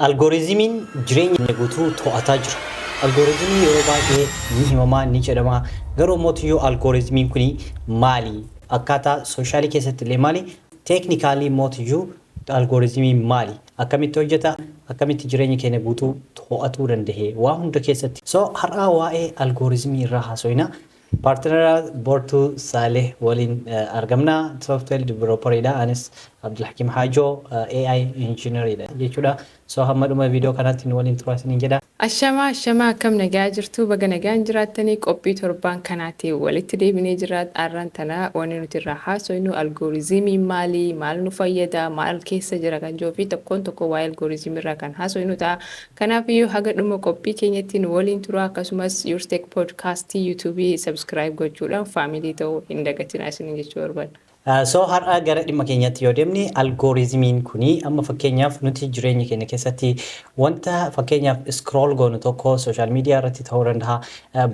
Algoorizimiin jireenya keenya guutuu to'ataa jira. Algoorizimiin yeroo baay'ee ni himamaa, ni jedhamaa. Garuu ammoo Tuyyoo algoorizimiin kuni maali? Akkaataa sooshaalii keessatti illee maali? Teeknikaalii immoo Tuyyuu algoorizimiin maali? Akkamitti hojjeta? Akkamitti jireenya keenya guutuu to'atuu danda'e? Waa hunda keessatti. So har'aa waa'ee algoorizimii irraa haasoyna. Partnera Bortu Saleh waliin argamna. Software developer dha. Anis Abdulhakim Hajo AI engineer dha jechuudha. So hamma dhuma video kanaatti nu waliin turaa isiniin jedha. Ashamaa ashamaa akkam nagaa jirtuu baga nagaan jiraattanii qophii torbaan kanaatiin walitti deebinee jirra arran tana wani nuti irraa haasoynu algooriziimiin maali maal nu fayyada maal keessa jira kan jiru fi tokkoon tokkoo waa'ee algooriziimii irraa kan haasoynu ta'a Kanaafiyyuu haga dhuma qophii keenyatti nu waliin turaa akkasumas Yourtech Podcast YouTube subscribe gochuudhaan family ta'uu hin dagatinaa isiniin jechuu barbaadna. So har'a gara dhimma keenyatti yoo deemne algorithm-iin kuni amma fakkeenyaaf nuti jireenya keenya keessatti wanta fakkeenyaaf scroll goonu tokko social media irratti ta'uu danda'a,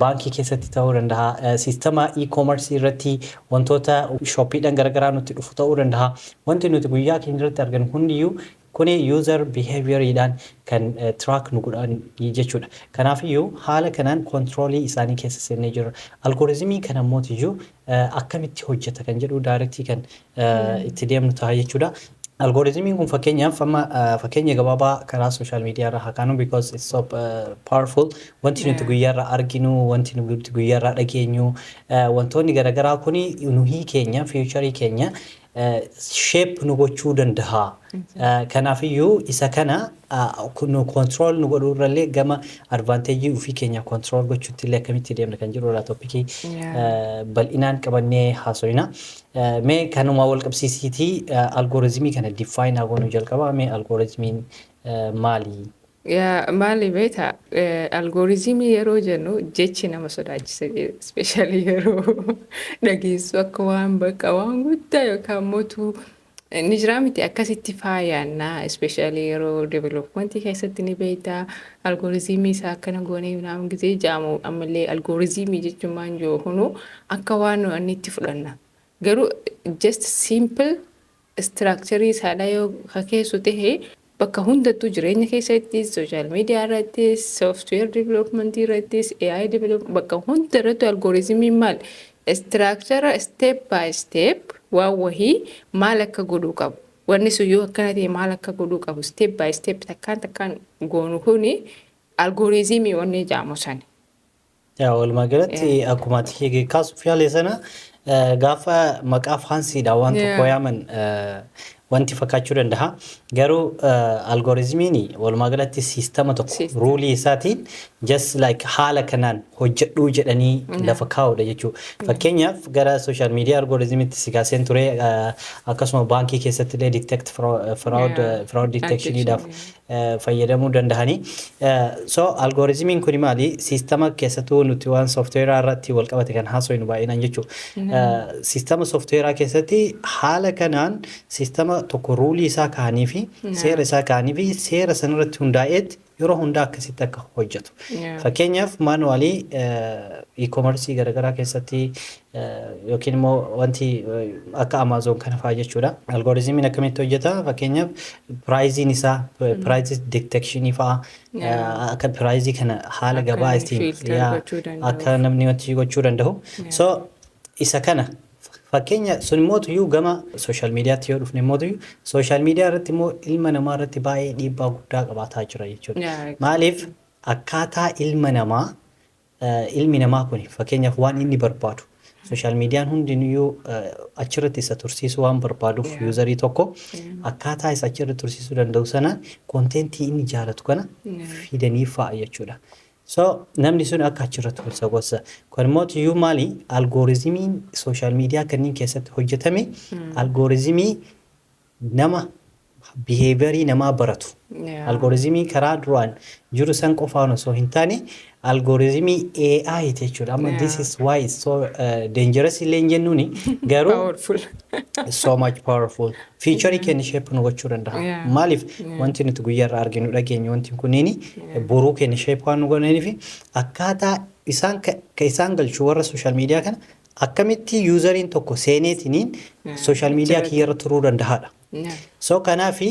baankii keessatti ta'uu danda'a, siistama e-commerce irratti wantoota shoppiidhan garagaraa nutti dhufu ta'uu danda'a. Wanti nuti guyyaa keenya irratti arginu hundiyyuu Kuni user behavior dhaan kan track nu godhan jechuudha. Kanaafiyyuu haala kanaan control isaanii keessa seennee jirra. Algorithm kana mootiyyuu akkamitti hojjeta kan jedhu direct kan itti deemnu taha jechuudha. Algorithm kun fakkeenyaaf amma fakkeenya gabaabaa karaa social media irraa haa kaanu because it's so powerful. Wanti nuti guyyaa irraa arginu, wanti nuti guyyaa irraa dhageenyu, wantoonni garagaraa kuni nuhii keenya, future keenya shape nu gochuu dandaha. Kanaafiyyuu isa kana nu control nu godhuu irrallee gama advantage ofii keenya control gochuutti illee akkamitti deemna kan jedhu irraa topic bal'inaan qabannee haasoyna. Mee kanuma wal qabsiisiitii algorithm kana define haa goonu jalqaba mee algorithm maali? Yaa maali beeta algooriziimii yeroo jennu jechi nama sodaachisa ispeeshaalii yeroo dhageessu akka waan bakka waan guddaa yookaan mootu ni jiraa miti akkasitti faayaannaa ispeeshaalii yeroo developmentii keessatti ni beektaa algooriziimii isaa akkana goonee yuunaan gisee jaamu ammallee algooriziimii jechuun maan jiru hunuu akka waan nu annitti fudhanna garuu just simple Istiraakcharii saalaa yoo ka keessu tahe bakka hundattuu jireenya keessattis, social media irrattis, software development irrattis, AI development bakka hunda irrattu algorithm maal istiraakchara step by step waan wahii maal akka godhuu qabu wanni sun yoo akkana tahe maal akka godhuu qabu step by step takkaan takkaan goonu kuni algorithm wanni ja'amu sani. Yaa walumaa galatti Yeah. akkuma ati hiike kaasuuf yaale sana eh, gaafa maqaa faansiidha waan Yeah. tokko yaaman eh, wanti fakkaachuu danda'a. Garuu eh, algorizimiin walumaa galatti siistama tokko System. ruulii isaatiin just like haala kanaan hojjedhuu jedhanii Yeah. lafa kaa'udha jechuudha. Fakkeenyaaf gara social media algorizimitti si kaaseen ture eh, akkasuma baankii keessatti illee detect fraud, fraud, Yeah. eh, fraud detectioniidhaaf Addiction, yeah. fayyadamuu dandahani. So algorithm kuni maali? Sistama keessatuu nuti waan software irratti wal qabate kan haasoynu baay'inaan jechu. Sistama software keessatti haala kanaan sistama tokko ruulii isaa kaa'anii fi seera isaa kaa'anii fi seera san irratti hundaa'eet yeroo hundaa akkasitti akka hojjetu. Fakkeenyaaf manually e-commerce garagaraa keessatti yookiin immoo wanti akka Amazon kana fa'aa jechuudha. Algoritmiin akkamitti hojjeta? Fakkeenyaaf piraayiziin isaa piraayizii detekshinii fa'aa Yeah. akka piraayizii kana haala Akka gabaa inni ittiin filter yaa, gochuu danda'u. akka namni wanti gochuu danda'u. Yeah. So isa kana fakkeenya sun immoo tuyyuu gama sooshaal miidiyaatti yoo dhufne immoo tuyyuu sooshaal miidiyaa irratti immoo ilma namaa irratti baay'ee dhiibbaa guddaa qabaataa jira jechuudha. Yeah, exactly. Maaliif akkaataa ilma namaa Ilmi namaa kuni fakkeenyaaf waan inni barbaadu social median hundinuyyuu achirratti isa tursiisuu waan barbaaduuf Yeah. userii tokko Yeah. akkaataa isa achirratti tursiisuu danda'u sanaan kontentii inni jaalatu kana Yeah. fidaniif fa'a jechuudha. So namni sun akka achirratti isa gosa. Kun immoo iyyuu maali algoorizimiin social media kanneen keessatti hojjetame algoorizimii nama behavior namaa baratu algorithm karaa duraan jiru san qofaan osoo hin taane algorithm AI ti jechuudha. Amma this Yeah. is why it's so uh, dangerous illee hin jennuuni garuu Powerful. so much powerful feature keenya shape nu gochuu danda'a. Yeah. Maaliif wanti nuti guyyaa irraa arginu dhageenyu wanti kunniin boruu keenya shape waan nu godhaniif akkaataa isaan ka ka isaan galchu warra social media kana Akkamitti useriin tokko seeneetiniin social media kiyya irra turuu dandahaadha. So kanaafi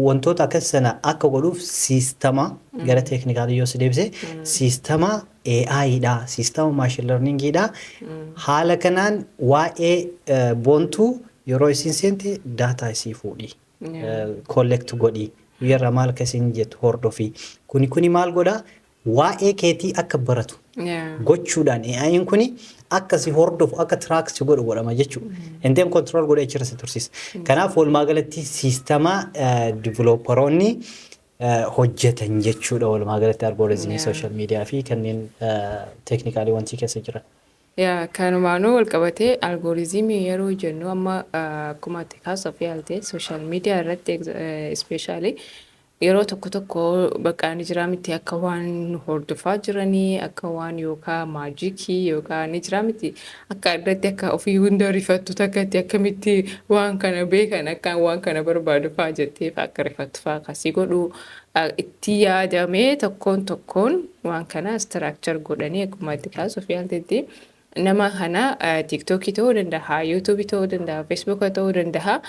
wantoota akkasi sana akka godhuuf siistama gara teeknikaalii yoo si deebise siistama AI dha, siistama machine learning dha. Haala kanaan waa'ee boontuu yeroo isiin seente data isii fuudhi. Collect godhi. Guyya irraa maal akka isiin jettu hordofi. Kuni kuni maal godha Waa'ee keetii akka baratu Yeah. gochuudhaan AI'n kuni akka si hordofu akka track si godhu godhama jechuudha. And then control godhee achirra si tursiisa. Kanaaf walumaa galatti siistama divilooparoonni hojjetan jechuudha walumaa galatti algooriizimii Yeah. sooshaal miidiyaa fi kanneen teeknikaalii wantii keessa jiran. Yaa kanumaanuu wal qabatee algooriizimii yeroo jennu amma ah, akkuma ati kaasuuf yaalte sooshaal miidiyaa irratti ispeeshaalii Yeroo tokko tokko bakka ni jiraa miti akka waan nu hordofaa jiranii akka waan yookaa maajikii yookaa ni jiraa miti akka addatti akka ofii hunda rifattu takkatti akkamitti waan kana beekan akkaan waan kana barbaadu faa jettee faa akka rifattu faa akka si godhu itti yaadamee tokkoon tokkoon waan kana istiraakchar godhanii akkuma itti kaasuuf yaaltetti nama kana tiiktookii ta'uu danda'a yuutuubii ta'uu danda'a feesbuuka ta'uu danda'a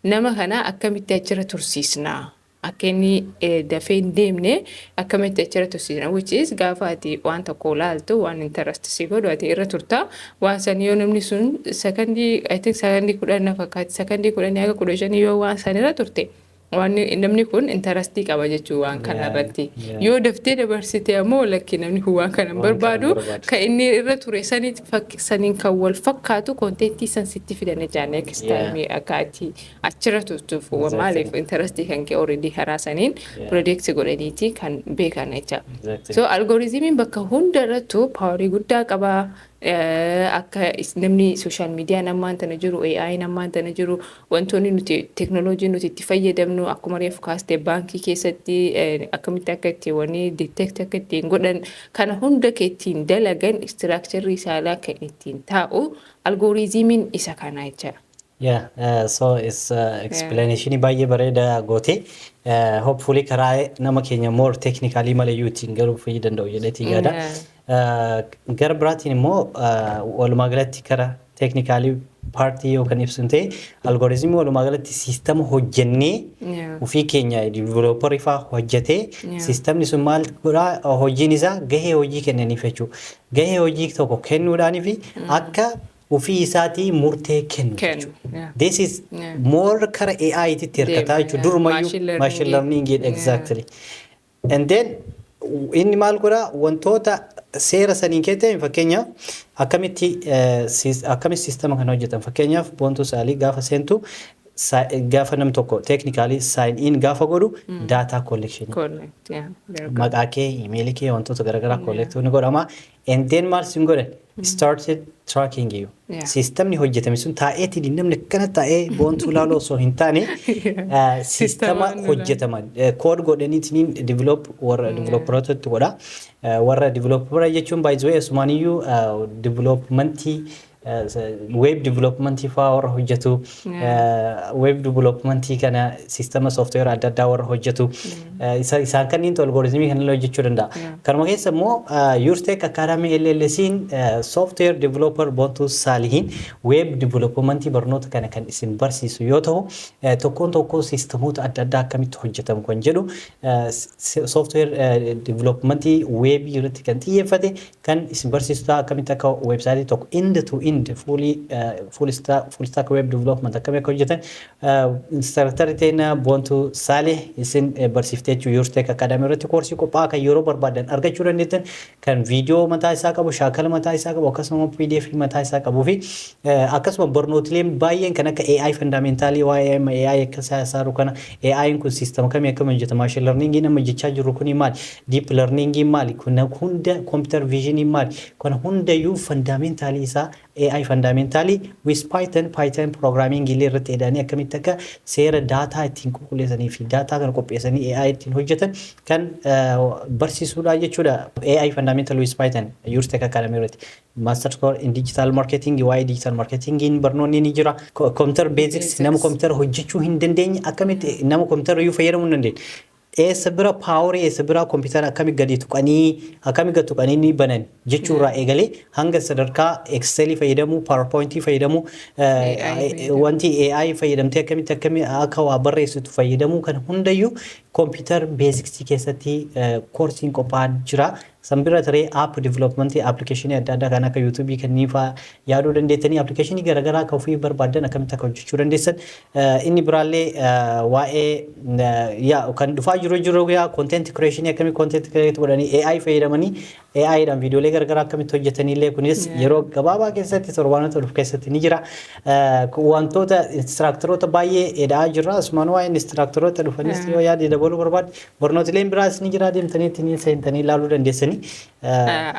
Nama kana akkamitti achirra tursiisna? Akka inni dafee hin deemne akkamitti achirra tursiisna? Which is gaafa ati waan tokko laaltu waan interest si godhu ati irra turta. Waan san yoo namni sun sekondii I think sekondii kudhan na fakkaatti sekondii kudhanii haga kudha shanii yoo waan san irra turte waan namni kun interastii qaba jechuu waan kana Yeah, irratti. yeah. Yoo daftee dabarsite ammoo lakki namni kun waan kana hin Waan kana hin barbaadu barbaadu. ka inni irra ture sanit fakki saniin kan wal fakkaatu konteentii san sitti fida najaa next Yeah. time akka ati achirra turtuuf wa Exactly. maaliif intarastii kan kee already karaa saniin Yeah. predict godhaniiti kan beekan jecha Exactly. so algoritimiin bakka hunda irrattu paawarii guddaa qaba Eh, akka is- namni social media ammaan tana jiru AI ammaan tana jiru Wantoonni nuti teknolojii nuti itti fayyadamnu akkuma reefu kaaste baankii keessatti akkamitti akka itti wanii detect akka ittiin godhan kana hunda ka ittiin dalagan istiraakcharrii isaalaa kan ittiin taa'u algooriizimiin isa kanaa jechaadha. Yeah, uh, so it's uh, Yeah. explanation baay'ee bareeda goote. Uh, hopefully karaa nama keenya more technically mala iyyuu ittiin garuu fayyii danda'u jedheetii yaada. Yeah. Gara biraatiin immoo walumaa galatti kara teeknikaalii paartii yoo kan ibsu ta'e algooriizimii walumaa galatti siistama hojjennee Yeah. ofii keenya diivilooparii fa'aa hojjetee Yeah. siistamni sun maal godhaa hojiin isaa gahee hojii kennaniif jechuudha. Gahee hojii tokko kennuudhaanii fi akka ofii isaatii murtee kennu Kennu, jechuudha. yeah. This is Yeah. more kara AI titti hirkataa Deema, jechuudha. yeah. Durumayyuu Machine learning, machine learning yeah. exactly. And then inni maal godha wantoota seera saniin keessa ta'e fakkeenyaaf akkamitti akkamitti siistama kan hojjetan fakkeenyaaf boontuu saalii gaafa seentu gaafa nam tokko teeknikaalii saayin in gaafa godhu daataa kollekshinii maqaa kee imeelii kee wantoota garaagaraa kolleektuu ni godhama And then maal sin godhe? Started tracking you. Yeah. Siistamni hojjetame sun taa'eeti dinnamni akkana taa'ee boontuu laaloo osoo hin taane eh, siistama Siistama inni hojjetama. Kood godhaniitiin develop warra developerootatti godha. Eh, Warra developera jechuun by the way asumaaniyyuu developmentii Web development faa warra hojjetu web development kana sistema software adda addaa warra hojjetu isaan kanniintu algoritmii kan illee hojjechuu danda'a. Kanuma keessa immoo Yurtech Academy LLC'n software developer Bontuu Saalihiin web development barnoota kana kan isin barsiisu yoo ta'u tokkoon tokkoo sistemoota adda addaa akkamitti hojjetamu kan jedhu software development web irratti kan xiyyeeffate kan isin barsiisu ta'a akkamitti akka website tokko end to end fully uh, full stack full stack web development akkamii akka hojjetan uh, instructor teena Bontu Saleh isin eh, barsiifte jechuu Your Tech Academy irratti koorsii qophaa'aa kan yeroo barbaadan argachuu dandeettan kan viidiyoo mataa isaa qabu shaakala mataa isaa qabu akkasuma PDF mataa isaa qabuu fi eh, akkasuma barnootileen baay'een kan akka AI fundamentaalii waa'ee AI akka isaa isaa kana AI'n kun siistama kamii akkamiin hojjeta maashin larniingiin amma jechaa jirru kun maali Deep learningiin maali? Kana hunda computer visioniin maali? Kana hundayyuu fundamentally isaa AI fundamentally with Python, Python programming illee irratti eda'anii akkamitti akka seera daataa ittiin qulqulleessanii fi daataa kana qopheessanii AI ittiin hojjetan kan barsiisuudha jechuudha. AI fundamentally with Python Yours Tech Academy irratti Masters Course in Digital Marketing waa'ee Digital Marketingiin barnoonni ni jira. Computer Basics nama computer hojjechuu hin dandeenye akkamitti nama computer iyyuu fayyadamuu hin dandeenye Eessa bira power eessa bira computer akkami gadi tuqanii akkami gad tuqanii ni banan jechuu irraa eegalee hanga sadarkaa excel fayyadamuu powerpoint fayyadamuu wanti AI fayyadamtee akkamitti akkami akka waa barreessitu fayyadamuu kan hundayyuu computer basics keessatti koorsiin qophaa'an jira San bira taree app development application adda addaa kan akka youtube kanneen faa yaaduu dandeettanii application garagaraa ka ofiif barbaaddan akkamitti akka hojjechuu dandeessan inni biraallee waa'ee yaa kan dhufaa jiru jiru yaa content creation akkamii content create godhanii AI fayyadamanii AI dhaan viidiyoolee garagaraa akkamitti hojjetaniillee kunis yeroo gabaabaa keessatti torbaanota dhufu keessatti ni jira wantoota instructoroota baay'ee eda'aa jirra asumaan waa'ee instructoroota dhufanis yoo yaade dabaluu barbaadde Barnootileen biraas ni jira deemtanii ittiin seentanii ilaaluu dandeessanii.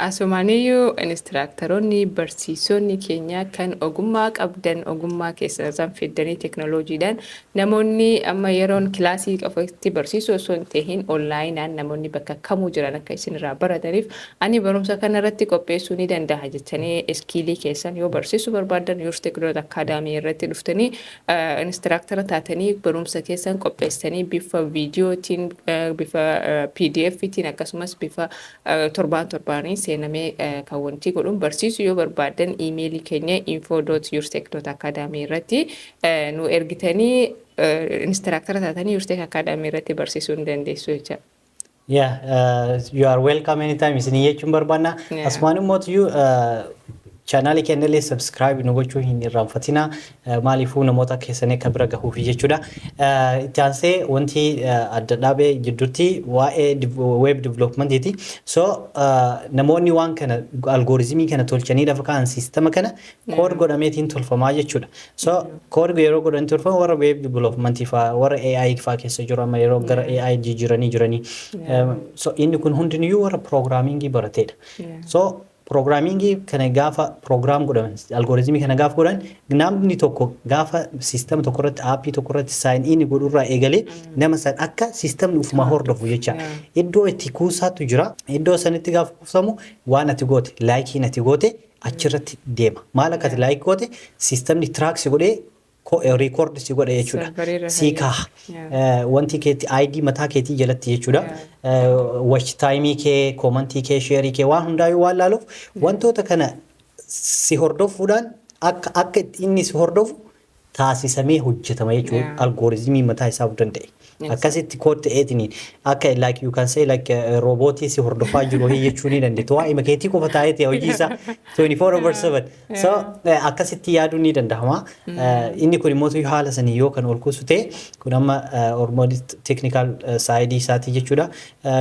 Asumaaniyyuu inistiraaktaroonni barsiisonni keenya kan ogummaa qabdan ogummaa keessan san fiddanii teknoloojiidhaan namoonni amma yeroon kilaasii qofatti barsiisuu osoo hin tahin onlaayinaan namoonni bakka kamuu jiran akka isin irraa barataniif ani barumsa kana irratti qopheessuu ni dandaha jettanii iskiilii keessan yoo barsiisuu barbaaddan Your Tech Dot Academy irratti dhuftanii Instraaktara taatanii barumsa keessan qopheessitanii bifa viidiyootiin, bifa pdf tiin akkasumas bifa torbaan torbaaniin seenamee kan wantii godhuun barsiisu yoo barbaaddan iimeelii keenya info.yourtech.academy irratti nu ergitanii instraaktara taatanii Yourtech Academy irratti barsiisuu ni dandeessu jecha. Yeah, uh, you are welcome anytime. Isin jechuun barbaanna. Yeah. Asumaan immoo tuyyu chaanaalii keenya illee subscribe nu gochuu hin irraanfatina. Uh, Maaliifuu namoota keessanii akka bira gahuufi jechuudha. Uh, Itti aansee wanti uh, adda dhaabee jidduutti waa'ee div- web developmentiiti. So uh, namoonni waan kana algoritmii kana tolchanii lafa kaa'an siistama kana Code godhameetiin tolfamaa jechuudha. So code yeroo godhan tolfamu warra web development faa warra AI faa keessa jiru amma yeroo gara AI jijjiiranii jiranii. Um, So inni kun hundiniyyuu warra programmingii barateedha. So programmingii kana gaafa program godhan algoritmii kana gaafa godhan namni tokko gaafa system tokko irratti appii tokko irratti sign in godhu irraa eegalee nama san akka systemni ufumaa hordofu jecha iddoo itti kuusaatu jira. Iddoo sanitti gaafa kuusamu waan ati goote laayikiin ati goote achirratti deema. Maal akkati Yeah. like goote sistemni track si godhee ko- eh, record si godhe jechuudha. Serverii irra Si kan kaaha. jiru. Yeah. Eh, Wanti keetti ID mataa keetii jalatti jechuudha. Eh, Watch time kee, komantii kee, sheerii kee waan hundaayuu waan laaluuf wantoota kana si hordofuudhaan akka akka inni si hordofu taasisamee hojjetama jechuun Yeah. algoritmii mataa isaa of danda'e. Yes. Akkasitti kood ta'eetiin akka like you can say like eh, roobootii si hordofaa jiru hii jechuu ni dandeetti. Waa ima keetii qofa taa'eeti hojii isaa 24 over 7. So eh, akkasitti yaaduun ni danda'ama. Eh, Inni kun immoo tuyyu haala sanii yoo kan ol kuusu ta'e kun amma eh, hormoonii technical eh, side isaatii jechuudha.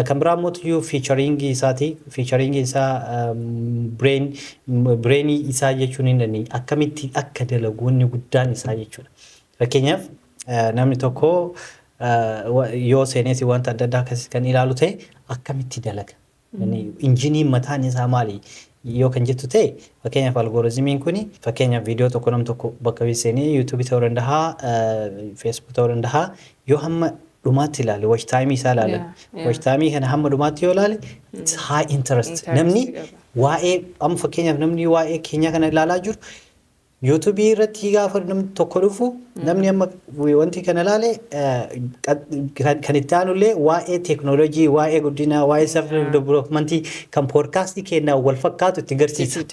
Kan biraa immoo tuyyuu fiichariingii isaati. Fiichariingiin isaa bireen bireenii isaa jechuun hin dandeenye. Akkamitti akka dalagu wanni guddaan isaa jechuudha. Fakkeenyaaf namni tokko yoo seeneeti wanta adda addaa akkasii kan ilaalu ta'e akkamitti dalaga? Injiniin mataan isaa maali? yoo kan jettu ta'e fakkeenyaaf algorizimiin kun fakkeenyaaf viidiyoo tokko nam tokko bakka bee seenee yuutuubii ta'uu danda'a feesbuuk ta'uu danda'a yoo hamma dhumaatti ilaale watch time isaa ilaale Yeah, yeah. watch time kana hamma dhumaatti yoo ilaale it's high interest Interest namni qaba. waa'ee amma fakkeenyaaf namni waa'ee keenyaa kana ilaalaa jiru Youtube irratti gaafa namni tokko dhufu namni amma wanti kana ilaale kan itti aanu illee waa'ee teeknooloojii, waa'ee guddinaa, waa'ee self development kan poodkaastii keenyaa wal fakkaatu itti garsiisa.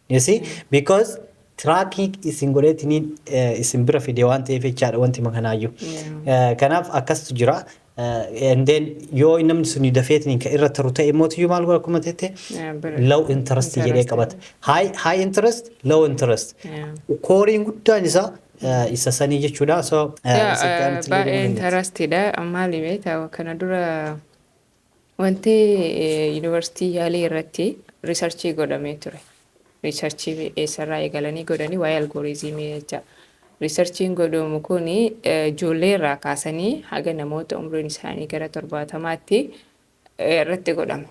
You see? Because tracking isin godheetiniin isin bira fide waan ta'eef jechaadha wanti makanaayyuu. Kanaaf akkasitu jira. and then yoo namni suni dafeetiniin kan irra taru ta'e mootiyyuu maal godha akkuma jette Yeah, bir- low interest jedhee interest. qabata high high interest low interest Yeah. kooriin guddaan isaa eh, isa sanii jechuudha so eh, Yaa, isa eh, gaariitti illee baay'ee deemuu dandeetti. interestidha maali beektaa kana dura Wanti Yuunivarsiitii Yaalii irratti riisarchii godhamee ture. Riisarchii eessarraa eegalanii godhanii waa'ee algooriizimii jecha. Riisarchiin godhamu kun ijoollee irraa kaasanii haga namoota umriin isaanii gara torbaatamaatti irratti godhama.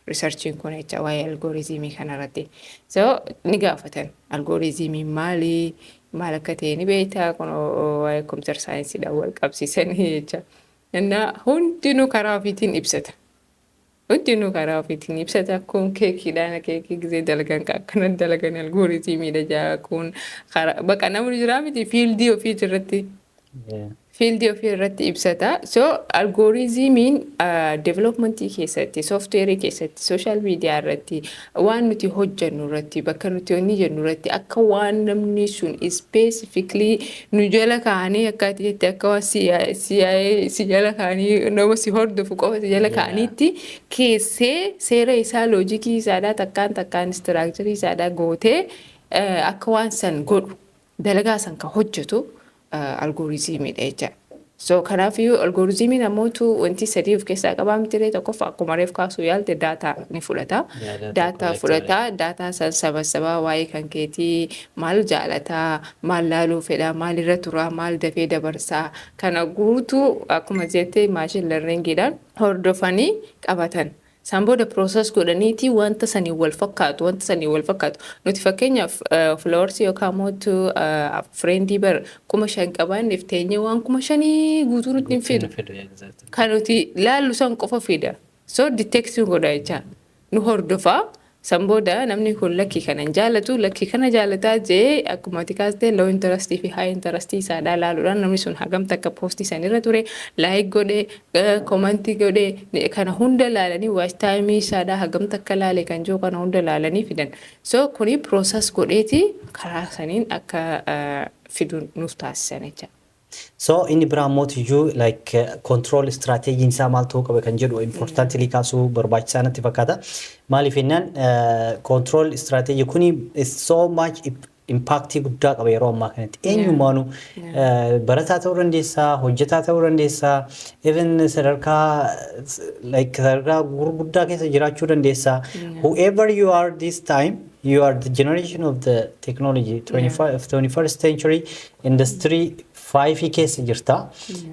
Riisarchiin kun jecha waa'ee algooriizimii kanarratti. So ni gaafatan algooriizimiin maali? Maal akka ta'e ni beektaa? Kun waa'ee kompiitar saayinsiidhaan wal qabsiisanii jecha. Innaa hundinuu karaa ofiitiin ibsata. Hundinuu karaa ofiitiin ibsata. Kun keekiidhaan keekii gizee dalagan ka akkana dalagan algooriziimiidha jaa kun karaa baqa namni jiraa miti fiildii ofiiti irratti Yeah. fiildii ofii irratti ibsata. So algooriziimiin developmentii keessatti, sooftiweerii keessatti, sooshaal miidiyaa irratti Waan nuti hojjannu irratti, bakka nuti wanni jennu irratti akka waan namni sun specifically nu jala kaa'anii akka ati jette akka waan CIA CIA si jala kaa'anii nama si hordofu qofa si jala Yeah. kaa'aniitti keessee seera isaa loojikii isaadhaa takkaan takkaan istiraakcharii isaadhaa gootee eh, akka waan san godhu dalagaa san ka hojjetu algooriziimii dha jecha. So kanaafiyyuu algooriziimiin ammootu wanti sadii of keessaa qabaa mitiree tokkoffaa akkuma reef kaasuu yaalte daataa ni fudhata. Yaa daataa Daataa collector. fudhata daataa san sabassabaa waa'ee kan keetii maal jaalataa maal laaluu fedhaa maal irra turaa maal dafee dabarsaa kana guutuu akkuma jette maashin lerningiidhaan hordofanii qabatan. San booda process godhaniiti wanta saniin wal fakkaatu wanta saniin wal fakkaatu nuti fakkeenyaaf followers yookaan mootu friendii bar kuma shan qabaanneef teenyee waan kuma shanii guutuu nutti hin fidu kan nuti laallu san qofa fida so detecting godha jecha nu hordofa San booda namni kun lakki kana hin jaalatu, lakki kana jaalata je'ee akkuma ati kaaste low interest fi high interest isaadhaa laaluudhaan namni sun hagam takka post san irra ture, like godhe, comment godhe, kana hunda laalanii watch time isaadhaa hagam takka laale kan jiru kana hunda laalanii fidan. So kuni process godheeti karaa saniin akka fidu nuuf taasisan jecha. So inni biraa immoo tuyyuu like control strategy isaa maal ta'uu qaba kan jedhu importantly kaasuu barbaachisaa natti fakkaata. Maaliif jennaan control strategy kuni is so much impact guddaa qaba yeroo ammaa kanatti. Eenyumaanu barataa ta'uu dandeessaa, hojjetaa ta'uu dandeessaa, even sadarkaa like sadarkaa gurguddaa keessa jiraachuu dandeessaa. Whoever you are this time You are the generation of the technology 25 of 21st century industry 5 keessa jirta.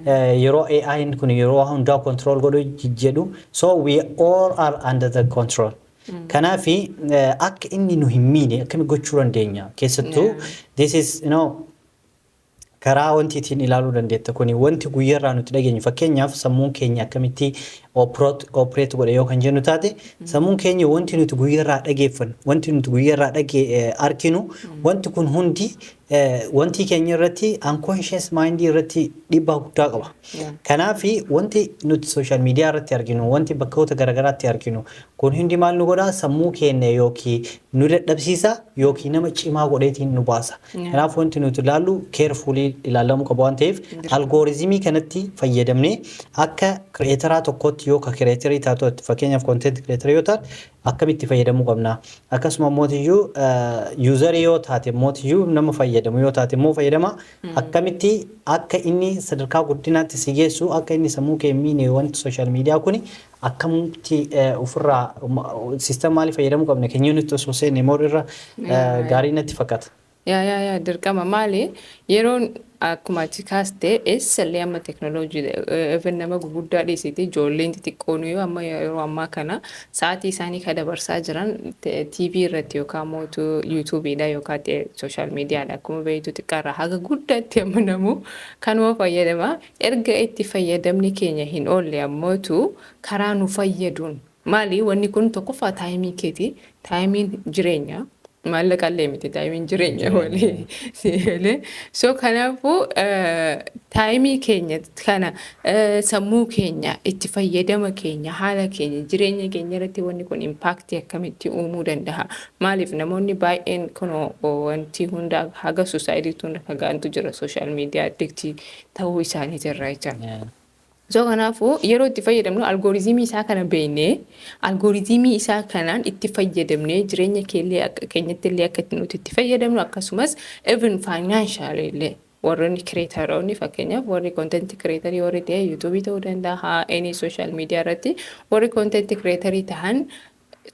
Eh, Yeroo AI kun yeroo hundaa control godhu j- jedhu so we all are under the control. Kanaaf akka inni nu hin miine akkami gochuu dandeenya keessattuu Yeah. this is you know Karaa wanti ittiin ilaaluu dandeetta kuni wanti guyyarraa nuti dhageenyu fakkeenyaaf sammuun keenya akkamitti operate godha yoo kan jennu taate sammuun keenya wanti nuti guyyarraa dhageeffannu wanti nuti guyyarraa dhage arkinu wanti kun hundi wanti keenya irratti unconscious mind irratti dhiibbaa guddaa qaba. Kanaaf wanti nuti social media irratti arginu wanti bakkoota garaagaraatti arginu Kun hundi maal nu godha? Sammuu keenya yookiin nu dadhabsiisa yookiin nama cimaa godheetiin nu baasa. Kanaaf wanti nuti ilaallu carefully ilaalamuu qaba waan ta'eef algoorizimii kanatti fayyadamnee akka creator tokkootti yoo ka creator taatu fakkeenyaaf content creator yoo taate akkamitti fayyadamuu qabna? Akkasuma mootiyyuu user yoo taate mootiyyuu nama fayyadamu yoo taate immoo fayyadama akkamitti akka inni sadarkaa guddinaatti si geessu akka inni sammuu kee hin miine wanti social media kuni akkamti ofirraa system maalii fayyadamuu qabna kenyoo nutti osoo seenne more irra gaarii natti fakkata. Yaa yaa yaa dirqama maali yeroon akkuma achi kaaste eessallee amma teknolojii even nama guguddaa dhiisiti ijoolleen xixiqqoon yoo amma yeroo ammaa kana sa'aatii isaanii ka dabarsaa jiran TV irratti yookaan mootu yuutuubiidha yookaan sooshaal miidiyaadha akkuma beektu xiqqaarraa haga guddaatti amma namuu kanuma fayyadama Erga itti fayyadamni keenya hin oolle ammootu karaa nu fayyaduun maali wanni kun tokkoffaa taayimii keeti taayimiin jireenya maallaqa illee miti taayimiin jireenya walii siigalee so kanaafuu taayimii keenya kana sammuu keenya itti fayyadama keenya haala keenya jireenya keenya irratti wanni kun impaaktii akkamitti uumuu danda'a maaliif namoonni baay'een kun wanti hunda haga suusaayidiitti hunda fagaantu jira sooshaal miidiyaa addiktii ta'uu isaaniiti irraa jechaadha. So kanaafuu yeroo itti fayyadamnu algooriziimii isaa kana beeknee algooriziimii isaa kanaan itti fayyadamnee jireenya keellee akka keenyatti illee akka nuti itti fayyadamnu akkasumas even financial illee warreen kireetaroonni fakkeenyaaf warri kontenti kireetarii warri ta'e yuutuubii ta'uu danda'a any social media irratti warri kontenti kireetarii ta'an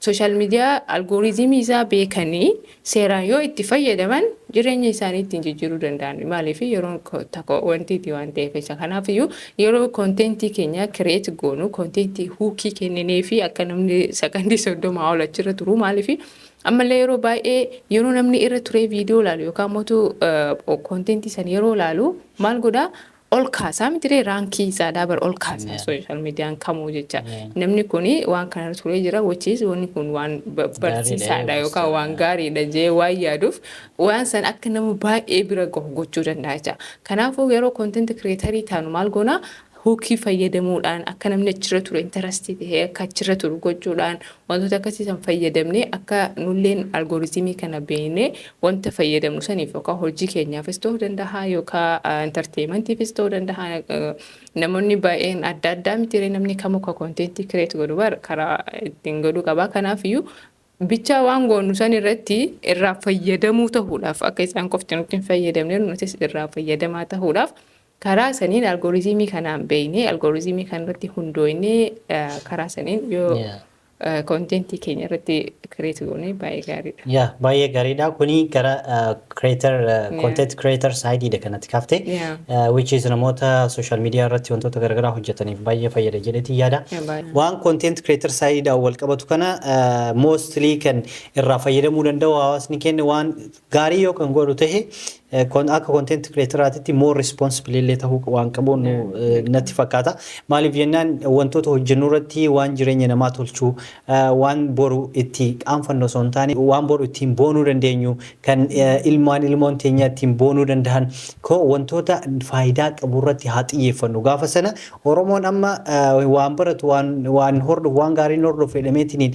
Sooshaal miidiyaa algooriizimii isaa beekanii seeraan yoo itti fayyadaman jireenya isaanii ittiin jijjiiruu danda'an. Maaliif yeroon tokko wantiiti waan ta'eef isa kanaaf iyyuu yeroo konteentii keenya kireet goonu konteentii huukii kenninee fi akka namni sakandii soddomaa ol achirra turu maaliif ammallee yeroo baay'ee yeroo namni irra turee viidiyoo laalu yookaan mootu konteentii san yeroo laalu maal godhaa ol kaasaa mitiree raankii isaadhaa bar ol kaasaa social median kamuu jecha namni kun waan kanarra turee jira which is wanni kun waan ba- barsiisaadha yookaan waan gaariidha jee waan yaaduuf waan san akka nama baay'ee bira gahu gochuu danda'a jecha kanaafuu yeroo content creator taanu maal goona hookii fayyadamuudhaan akka namni achirra ture intarastii ta'ee akka achirra turu gochuudhaan Wantoota akkasii san fayyadamnee akka nulleen algoritmii kana beeknee wanta fayyadamnu saniif yookaan hojii keenyaafis ta'uu danda'a yookaan entertainmentiifis ta'uu danda'a. Namoonni baay'een adda addaa mitiiree namni kamuu ka konteentii kireet godhu bar karaa ittiin godhuu qaba. Kanaafiyyuu bichaa waan goonu san irratti irraa fayyadamuu ta'uudhaaf akka isaan qofti nutti hin fayyadamne nutis irraa fayyadamaa ta'uudhaaf Karaa saniin algorizimii kanaan beeknee algorizimii kanarratti hundooynee karaa saniin yoo konteentii keenya irratti kireet goone baay'ee gaariidha. Yaa baay'ee gaariidha. Kuni gara creator content creator saayidiidha kanatti kaafte. Which is namoota social media irratti wantoota garaagaraa hojjetaniif baay'ee fayyada jedheetiin yaada. Waan content creator saayidiidhaan wal qabatu kana mostly kan irraa fayyadamuu danda'u hawaasni keenya waan Gaarii yoo kan godhu tahe akka content creator'aatitti more responsible illee tahuu waan qabu natti fakkaata. Maaliif jennaan wantoota hojjennu irratti waan jireenya namaa tolchu, waan boru itti qaanfannu osoo hin taane waan boru ittiin boonuu dandeenyu, kan ilmaan ilmoon teenyaa ittiin boonuu dandahan koo wantoota faayidaa qabu irratti haa xiyyeeffannu. Gaafa sana Oromoon amma waan baratu waan hordofu waan gaarii hin hordofu jedhameetiniin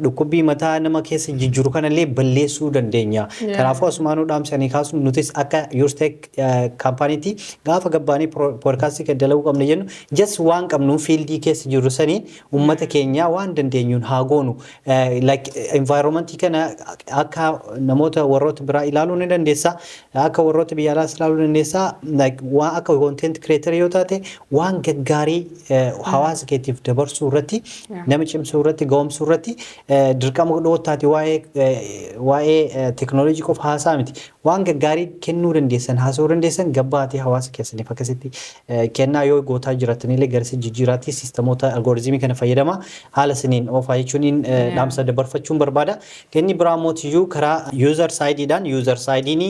dhukkubbii mataa nama keessa jijjiiru kanallee balleessuu dandeenya. Kanaafuu asumaanuu dhaamsanii kaasnu nutis akka Yurstek kaampaaniitti gaafa gabbaanee poodkaastii kan dalaguu qabna jennu just waan qabnu fiildii keessa jirru saniin uummata keenyaa waan dandeenyuun haa goonu like environment kana akka namoota warroota biraa ilaaluu ni dandeessa akka warroota biyya alaas ilaaluu dandeessa like waan akka content creator yoo taate waan gaggaarii eh, hawaasa keetiif dabarsuu irratti nama cimsuu irratti ga'umsuu irratti eh, dirqama dhoottaati waa'ee eh, waa'ee eh, teknooloojii qofa haasaa miti Waan gaggaarii kennuu dandeessan, haasa'uu dandeessan gabbahaatii hawaasa keessaniif akkasitti kennaa yoo gootaa jiraattaniillee garasi jijjiiraatii siistamoota algorithm kana fayyadamaa haala saniin oofaa jechuuniin dhaamsa dabarfachuun barbaada. Inni biraa immoo tiyyuu karaa user side dhaan user side'n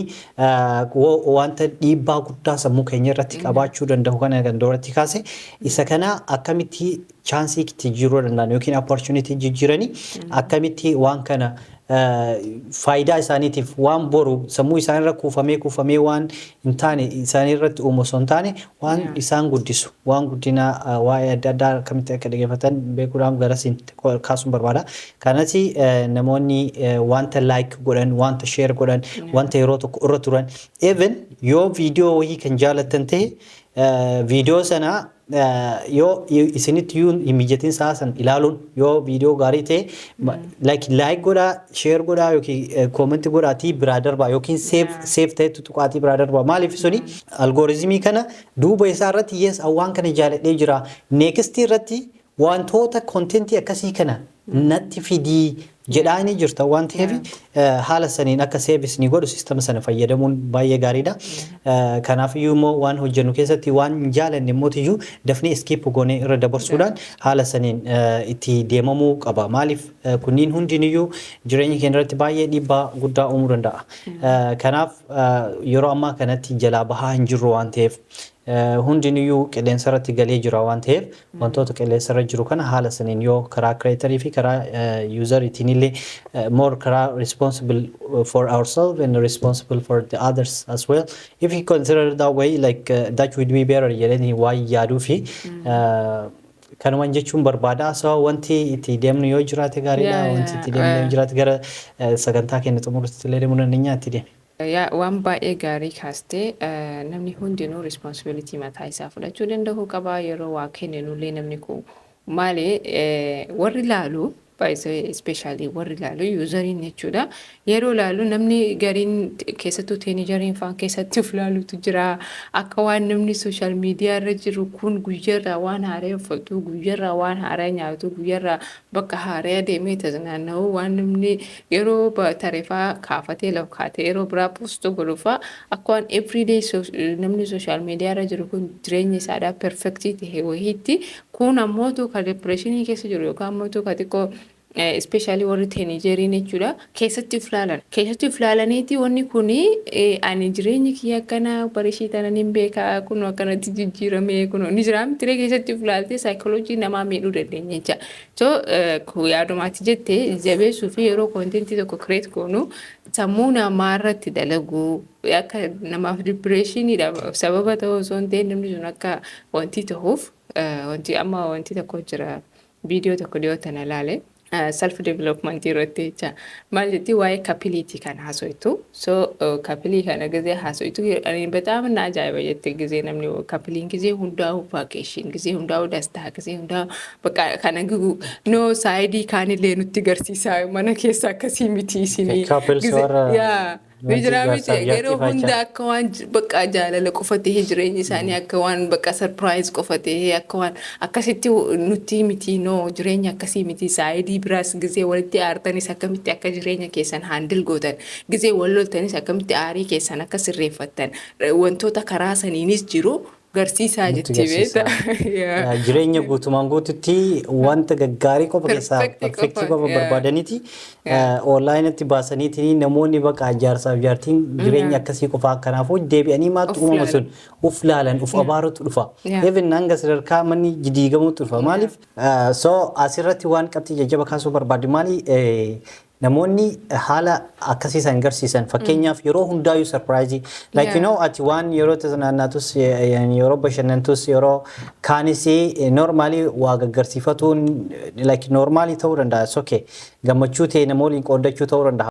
wanta dhiibbaa guddaa sammuu keenya irratti qabaachuu danda'u kana kan duratti kaase isa kana akkamitti chance itti jijjiiruu danda'an yookiin opportunity jijjiiranii akkamitti waan kana faayidaa isaaniitiif waan boru sammuu isaanirra kuufamee kuufamee waan hin taane isaanirratti uumu osoo hin taane waan isaan guddisu waan guddina waa'ee adda addaa akkamitti akka dhaggeeffatan beekuudhaan garasiin kaasuun barbaada. Kanas namoonni wanta like godhan wanta share godhan wanta yeroo tokko irra turan even yoo viidiyoo wayii kan jaalattan ta'e viidiyoo sana Yoo isinitti iyyuu hin mijatin sa'a san ilaaluun yoo viidiyoo gaarii ta'e like like godhaa share godhaa yookiin comment godhaatii biraa darbaa yookiin save save ta'etti tuqaatii biraa darbaa maaliif suni algoritmii kana duuba isaa irratti yes an waan kana jaaladhee jira next irratti wantoota content akkasii kana natti fidii jedhaa ni jirta waan ta'eef haala saniin akka seevis ni godhu sistama sana fayyadamuun baay'ee gaariidha. Kanaaf iyyuu immoo waan hojjennu keessatti waan hin jaalanne immoo iyyuu dafnee iskiip goonee irra dabarsuudhaan haala saniin itti deemamuu qaba. Maaliif kunniin hundiin iyyuu jireenya keenya irratti baay'ee dhiibbaa guddaa uumuu danda'a. Kanaaf yeroo ammaa kanatti jalaa bahaa hin jirru waan ta'eef hundiniyyuu qilleensarratti galee jira waan ta'eef wantoota qilleensarra jiru kana haala saniin yoo karaa creator fi karaa user itiinillee more karaa responsible for ourselves and responsible for the others as well if you consider that way like uh, that would be better jedhanii waan yaaduu fi kanuman jechuun barbaada so wanti itti deemnu yoo jiraate gaariidha Yeah, wanti yeah, itti deemnu yoo uh, jiraate gara eh, sagantaa keenya xumurutti illee deemuu dandeenya itti deemi. Yaa waan baay'ee gaarii kaaste namni hundinuu responsibility mataa isaa fudhachuu danda'uu qaba yeroo waa kenninu illee namni koo maali warri laalu baay'ee ispeeshaalii warri laalu yuuzariin jechuudha yeroo laalu namni gariin keessattuu teenijariin faan keessatti of laalutu jira akka waan namni sooshaal miidiyaa irra jiru kun guyyarraa waan haaraa uffatuu guyyarraa waan haaraa nyaatu guyyarraa bakka haaraya deemee taznaanna'uu waan namni yeroo tareefaa kaafatee lakkaatee yeroo biraa posto godhufaa akka waan everyday namni social media irra jiru kun jireenya isaadhaa perfectii ta'e wahiitti kun ammootu ka depressionii keessa jiru yookaan ammootu ka xiqqoo especially warri teenagerii jechuudha. keessatti uf laalan keessatti uf laalaniiti wanni kun ani jireenyi kiyya akkana barishii tanan hin beeka kunoo akkanatti jijjiirame kunoo ni jira mitiree keessatti uf laaltee saayikoloojii namaa miidhuu dandeenya jecha so yaadumaati jette jabeessuu fi yeroo koontentii tokko kireet goonu sammuu namaa irratti dalaguu akka namaaf dipireeshiniidha sababa ta'uu osoo hin ta'in namni sun akka wanti ta'uuf wanti amma wanti tokko jira Video tokko dhiyoo tana laale self development irratti jecha maal jetti waa'ee kapiliiti kan haasoytu so kapilii kana gizee haasoytu ani bataam na ajaa'iba jette gizee namni kapiliin gizee hundaa'u vaakeeshin gizee hundaa'u dastaa gizee hundaa'u bakka kana gigu no saayidii kaanillee nutti garsiisaa mana keessa akkasii miti isinii Couples gizee- warra- yaa Ni Wanti jira miti jaarsaaf jaartii yeroo faachaa. hunda akka waan j- bakka jaalala qofa ta'ee jireenyi isaanii akka waan bakka sarpiraayiz qofa ta'ee akka waan akkasitti hu- nutti miti noo jireenyi akkasii miti saayidii biraas gizee walitti aartanis akkamitti akka jireenya keessan haandil gootan gizee wal loltanis akkamitti aarii keessan akka sirreeffattan r- wantoota karaa saniinis jiru Garsiisaa Nutti jetti beeta. garsiisaa. Yaa. Yaa, Jireenya guutumaan guututti wanta gaggaarii qofa keessaa Perfect qofa, perfektii qofa yaa. barbaadaniiti Yaa. onlaayinatti baasaniitiin namoonni baqa jaarsaaf jaartiin jireenya akkasii qofaa kanaafuu deebi'anii maaltu Of uumama sun laalan. of laalan of abaarutu dhufa. Yaa. Even hanga sadarkaa manni diigamuutu dhufa. Maaliif? Ah, So asirratti waan qabxii jajjaba kaasuu barbaadu maali? Eh, Namoonni haala akkasii san garsiisan fakkeenyaaf yeroo hundaayyuu sarpiraayizii like you Yeah. know ati waan yeroo tanaannaatus yeroo bashannantus yeroo kaanis noormaalii waa gaggarsiifatuun like noormaalii ta'uu danda'a it's okay gammachuu ta'e nama waliin qooddachuu ta'uu danda'a.